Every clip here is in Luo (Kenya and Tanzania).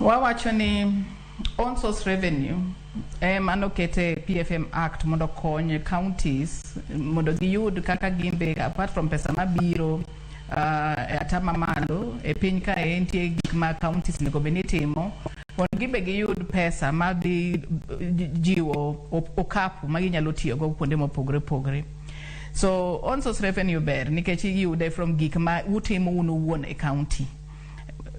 Wawacho ni own source revenue eh, mano kete PFM Act mondo okony counties mondo giyud kaka gimbe apart from pesa mabiro uh, e ata mamalo e piny kae nitie gik ma counties nego bed ni timo mondo gimbe giyud pesa ma dhi jiwo okapu ma ginyalo tiyogo kuonde mopogore opogore. So on source revenue ber nikech iyude from gik ma utimo un uwuon e county.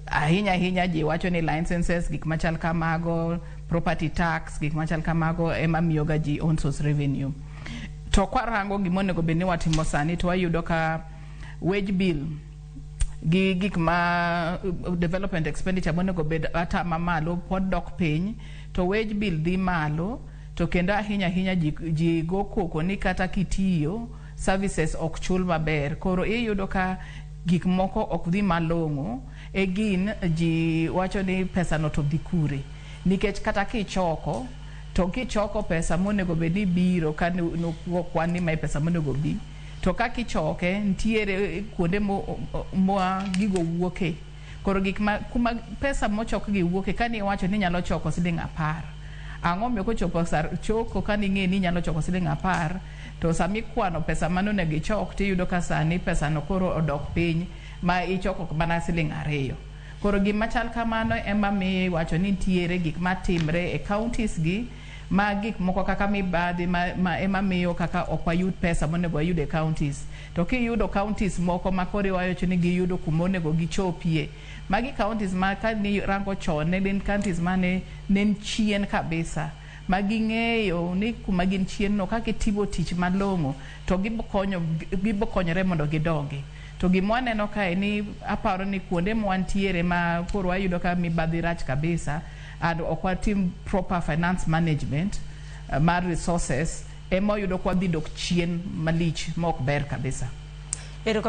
Ahinya ahinya ji wacho ni licenses gik machal kamago, property tax gik machal kamago ema miyoga ji on source revenue. To kwarango gima onego bed ni watimo sani to wayudo ka wage bill gi gik ma uh, development expenditure monego bed ata mamalo pod dok piny to wage bill dhi malo to kendo ahinya ahinya ji, ji go koko ni kata kitiyo services ok chul maber koro iyudo ka gik moko ok dhi malong'o e gin ji wacho ni pesano to dhi kure nikech kata kichoko to kichoko pesa monego bed ni biro ka nu- nu- kwan ni mae pesa monego bi to ka kichoke ntiere kuonde mo- mo- ma gigo wuoke Koro gik ma, kuma pesa mochokgi wuoke kane iwacho ni inyalo choko siling apar, ang'o omiyo kochopo sa choko kane ing'eyo ni inyalo choko siling apar to sama ikwano pesa mane onego ichok to iyudo ka sani pesano koro odok piny ma ichoko mana siling ariyo. Koro gima chal kamano ema miyo iwacho ni nitiere gik matimre e counties gi. ma gik moko kaka mibadhi ma, ma ema miyo kaka ok wayud pesa monego wayud e counties. To kiyudo counties moko ma koro iwacho ni giyudo kuma onego gichopie, magi counties ma ka nirango chon ne gin counties mane ne ni chien kabisa ma ging'eyo ni kuma gin chien no kaka itimo tich malong'o to gibokonyo gibokonyore mondo gidongi. To gima waneno kae ni aparo ni kuonde ma wantiere ma koro wayudo ka mibadhi rach kabisa, and ok watim proper finance management uh, mar resources ema oyudo kwa dhi dok chien malich ma ok ber kabisa. Erokamano.